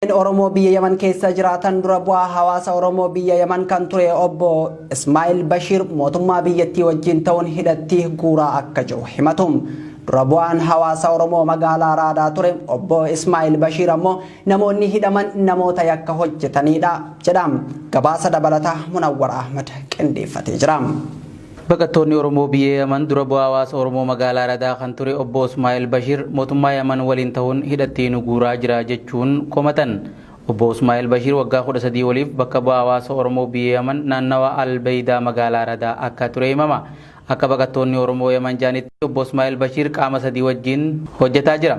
Lammiileen Oromoo biyya Yaman keessa jiraatan dura bu'aa hawaasa Oromoo biyya Yaman kan ture obbo Ismaa'il Bashiir mootummaa biyyattii wajjin ta'uun hidhatti guuraa akka jiru himatu. Dura bu'aan hawaasa Oromoo magaalaa Raadaa ture obbo Ismaa'il Bashiir ammoo namoonni hidhaman namoota yakka hojjetanidha jedha. Gabaasa dabalataa Munawwar Ahmad qindeeffatee jira. Baqattoonni Oromoo biyya Yaman dura bu'aa hawaasa Oromoo magaalaa Aradaa kan ture Obbo Usmaa'el Bashir mootummaa Yaman waliin ta'uun hidhatti nu guuraa jira jechuun komatan. Obbo Usmaa'el Bashir waggaa 13 oliif bakka bu'aa hawaasa Oromoo biyya Yaman naannawa Al Beeydaa magaalaa Aradaa akka ture himama. Akka baqattoonni Oromoo Yaman jedhanitti Obbo Usmaa'el Bashir qaama sadii wajjin hojjetaa jira.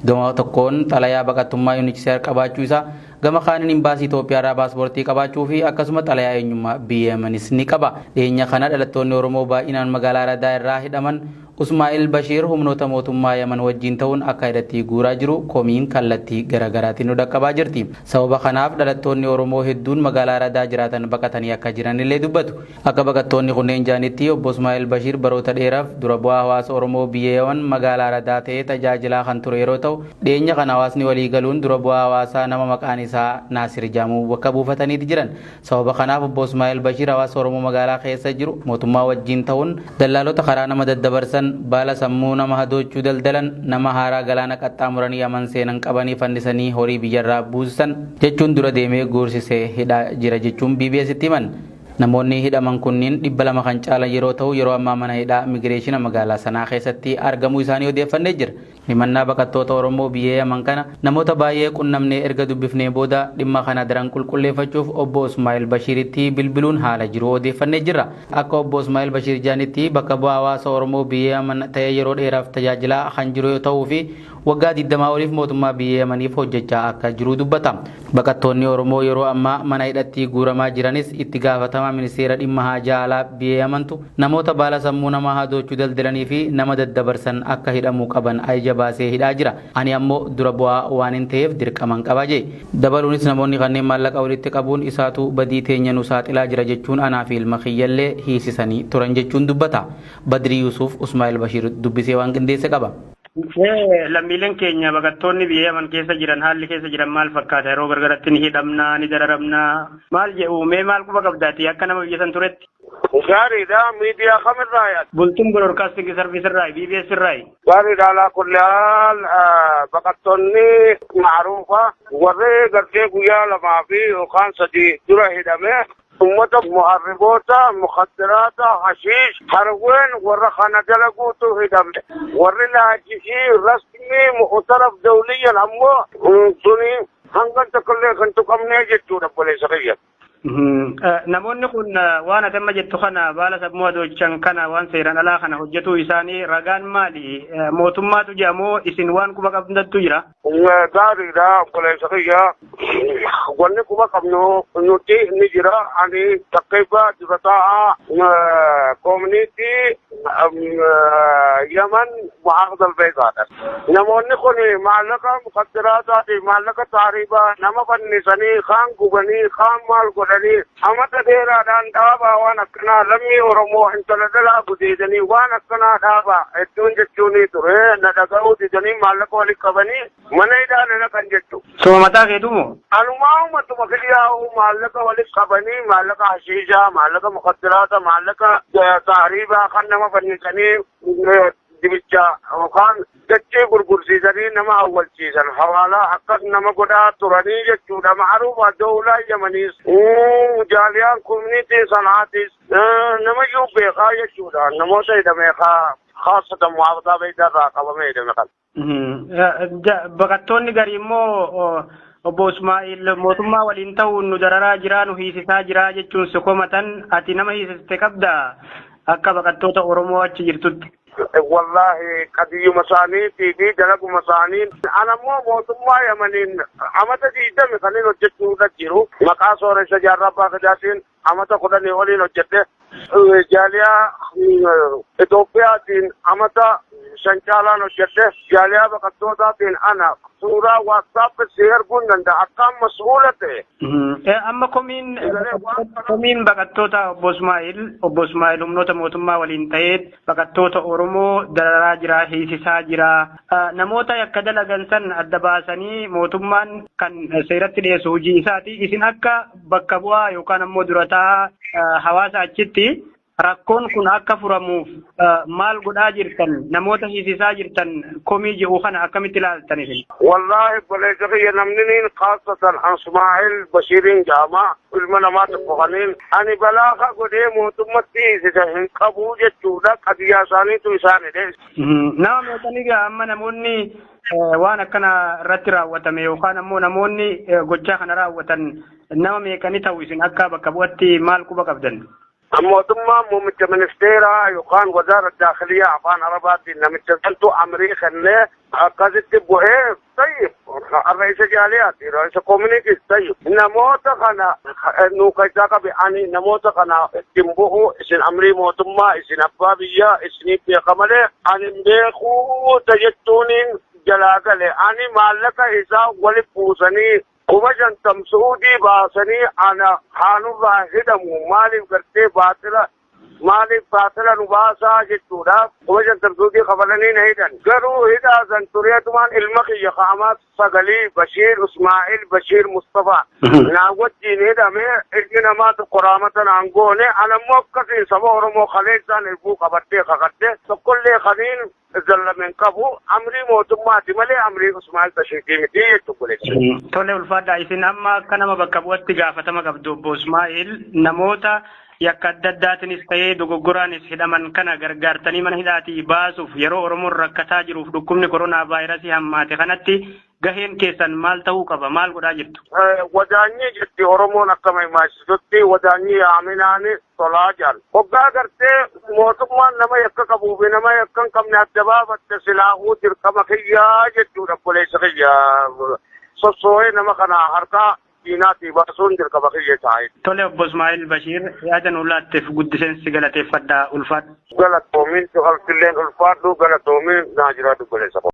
Gama tokkoon xalayaa baqattummaa UNHCR qabaachuu isaa, Gama kaaniin imbaasii Itoophiyaarraa paaspoortii qabaachuu fi akkasuma xalayaa eenyummaa biyya Yamanis ni qaba. Dhiyeenya kana dhalattoonni Oromoo baay'inaan magaalaa Aradaa irraa hidhaman Usmaa'il Bashiir humnoota mootummaa Yaman wajjiin ta'uun akka hidhatti guuraa jiru komiin kallattii gara garaatiin nu dhaqqabaa jirti. Sababa kanaaf dhalattoonni Oromoo hedduun magaalaa Aradaa jiraatan baqatanii akka jiran illee dubbatu. Akka baqattoonni kunneen jedhanitti Obbo Ismaa'eel Bashiir baroota dheeraaf dura bu'aa hawaasa Oromoo biyya Yaman magaalaa Aradaa ta'ee tajaajilaa kan ture yeroo ta'u, dhiyeenya kana hawaasni walii galuun dura bu'aa hawaasaa nama maqaan isaa Naasir jedhamu bakka buufataniiti jiran. Sababa kanaaf Obbo Ismaa'eel Bashiir hawaasa Oromoo magaalaa keessa jiru mootummaa wajjiin ta'uun dallaalota karaa nama daddabarsan, baala sammuu nama hadoochuu daldalan, nama haaraa galaana qaxxaamuranii Yaman seenan qabanii fannisanii horii biyyarraa buussan jechuun dura deemee guursisee hidhaa jira jechuun BBS'tti himan. Namoonni hidhaman kunniin 200 kan caalan yeroo ta'u yeroo ammaa mana hidhaa Imigireeshina magaalaa Sanaa keessatti argamuu isaanii odeeffannee jirra. Himannaa baqattoota Oromoo biyya Yaman kana namoota baay'ee qunnamnee erga dubbifnee booda dhimma kana daran qulqulleeffachuuf Obbo Usmaa'il Bashiiritti bilbiluun haala jiru odeeffannee jirra. Akka Obbo Usmaa'il Bashiir jedhanitti bakka bu'aa hawaasa Oromoo biyya Yaman ta'ee yeroo dheeraaf tajaajilaa kan jiru yoo ta'uu fi waggaa 20 oliif mootummaa biyya Yamaniif hojjechaa akka jiru dubbata. Baqattoonni Oromoo yeroo ammaa mana hidhattii guuramaa jiranis itti gaafatamaa ministeera dhimma haajaa alaa biyya Yamantu namoota baala sammuu namaa hadoochu daldalanii fi nama daddabarsan akka hidhamuu qaban ajaja baasee hidhaa jira. Ani ammo dura bu'aa waanin taheef dirqaman qaba jee. Dabaluunis namoonni kanneen maallaqa walitti qabuun isaatu badii teenya nu saaxilaa jira jechuun anaa fi ilma kiyyallee hiisisanii turan jechuun dubbata. Badrii Yusuuf Usmaa'el Bashiir dubbisee waan qindeesse qaba. Lammiileen keenya baqattoonni biyya Yaman keessa jiran haalli keessa jiran maal fakkaata? Yeroo gargaratti ni hidhamnaa, ni dararamnaa. Maal jedhu? Mee maal quba qabdaati akka nama biyya san turetti? Gaariidha. Miidiyaa kamirraa yaad? Bultum Broadcasting Service irraa, BBS irraa. Gaariidha. Alaa kulli haal baqattoonni maaruufa warri gartee guyyaa lamaa fi yookaan sadii dura hidhame Ummata muharriboota, mukhaddiraata, hashiish, harween warra kana dalaguutu hidhame. Warri naajisii rasmii mu'utaraf dawliyyan ammoo tuni hangan takkallee kan tuqamnee jechuudha obboleessa kiyya. Namoonni kun waan ati amma jettu kana baala sammuu adoochan kana waan seeraan alaa kana hojjetuu isaanii ragaan maali? Mootummaatu jedha moo isin waan quba qabdattu jira? Gaariidha obboleessa kiyya. Wanni quba qabnu nuti ni jira. Ani takkeeffa dura taa'aa koominiitii Yaman Muhammad Albeekaadha. Namoonni kun maallaqa mukaddiraataafi maallaqa taariibaa nama fannisanii kaan gubanii kaan maal godhanii Amata dheeraadhaan dhaabaa waan akkanaa lammii Oromoo intala dhalaa gudeedanii waan akkanaa dhaabaa hedduun jechuunii ture na dhaga'uu didanii maallaqa walitti qabanii mana hidhaa na naqan jechu. Suma mataa keetu moo? Anumaa umatuma kiyyaa'uu maallaqa walitti qabanii maallaqa hashiishaa, maallaqa mukaddiraata, maallaqa taariibaa kan nama fannisanii dibicha yookaan Dachii gurgursiisanii nama awwalchiisan hawaalaa akkas nama godhaa turanii jechuudha. Ma'aruufa dowlaa Yamaniis, jaaliyaan community Sanaatis namayyuu beekaa jechuudha. Namoota hidhame kaa khaasatan mu'aafataa beeydaa irraa qabamee hidhame kana. Baqattoonni garii immoo obbo Ismaa'il mootummaa waliin ta'uun nu dararaa jiraa nu hiisisaa jiraa jechuun si komatan ati nama hiisiste qabdaa akka baqattoota Oromoo achi jirtutti. Wallaahi qadiyyuma isaaniitii fi dalaguma isaaniin ana immoo mootummaa Yamaniin amata digdami kanin hojjechuudha jiru. Maqaa sooressa jaarraa abbaa gadaatiin amata kudhanii oliin hojjedhe. Jaaliyaa Itoophiyaatiin amata shan caalaan hojjedhe. Jaaliyaa baqattootaatiin ana suuraa waatsaappii si erguun danda'a akkaan mas'uula ta'e. Amma komiin komiin baqattoota obbo Ismaa'il obbo Ismaa'il humnoota mootummaa waliin ta'ee baqattoota Oromoo dararaa jira hiisisaa jira namoota yakka dalagan san adda baasanii mootummaan kan seeratti dhiyeessu hojii isaati isin akka bakka bu'aa yookaan ammoo durataa hawaasa achitti Rakkoon kun akka furamuuf maal godhaa jirtan namoota hiisisaa jirtan komii jedhu kana akkamitti ilaaltan isin? Wallaahi obboleessa kiyya namni niin kaassatan Ansmaa'il Bashiiriin jedhama. Ilma namaa tokko kaniin ani balaa ka godhee mootummatti hiisisa hin qabu jechuudha qadiyyaa isaaniitu isaan hidhe. Nama meeqanii gaa amma namoonni waan akkana irratti raawwatame yookaan ammoo namoonni gochaa kana raawwatan nama meeqanii ta'u isin akka bakka bu'atti maal quba qabdan? Mootummaan muummicha ministeeraa yookaan wazaara daakhiliyaa afaan arabaatiin namicha santu amrii kennee akkasitti bu'ee tayyib har'a isa jaaliyaati isa koominiitiis tayyib namoota kana nu keessaa qabi ani namoota kana ittiin bu'u isin amrii mootummaa isin abbaa biyyaa isiniif beeka malee ani hin beekuu jechuuniin jalaa gale ani maallaqa isaa walitti buusanii Kuma shantam su'uudii baasanii ana haa nurraa hidhamu maaliif gartee baaxila maaliif baaxila nu baasaa jechuudhaaf kuma shantam su'uudii kafalanii na hidhan. Garuu hidhaa san tureetumaan ilma kiyya ka amaas sagalii Bashiir Usmaa'il Bashiir Mustafaa naa wajjiin hidhame ilmi namaa tokko raamata naan goone anammoo akkasiin saba Oromoo kaleessaan irbuu qabadhee kakadhe tokkollee kaniin zallame hin qabu amrii mootummaati malee amrii Usmaan Bashiitii miti jechuun godhetti. Tole ulfaadhaa isin amma akka nama bakka bu'atti gaafatama qabdu obbo Ismaa'il namoota yakka adda addaatinis ta'ee dogoggoraanis hidhaman kana gargaartanii mana hidhaatii baasuuf yeroo Oromoon rakkataa jiruuf dhukkubni koronaa vaayirasii hammaate kanatti Gaheen keessan maal ta'uu qaba? Maal godhaa jirtu? Wadaanyii jetti Oromoon akka maimaasisutti wadaanyii yaaminaani tolaa jaal. Hoggaa gartee mootummaan nama yakka qabuu fi nama yakka hin qabne adda baafatte silaahuu dirqama kiyyaa jechuudha obboleessa kiyya sossoo'ee nama kana harkaa diinaatii baasuun dirqama kiyya taa'e. Tole obbo Ismaa'il Bashiir yaada nu laatteef guddiseen si galateeffadha ulfaadhu. Galatoomiin cufaltilleen ulfaadhu galatoomiin naa jiraadhu obboleessa koo.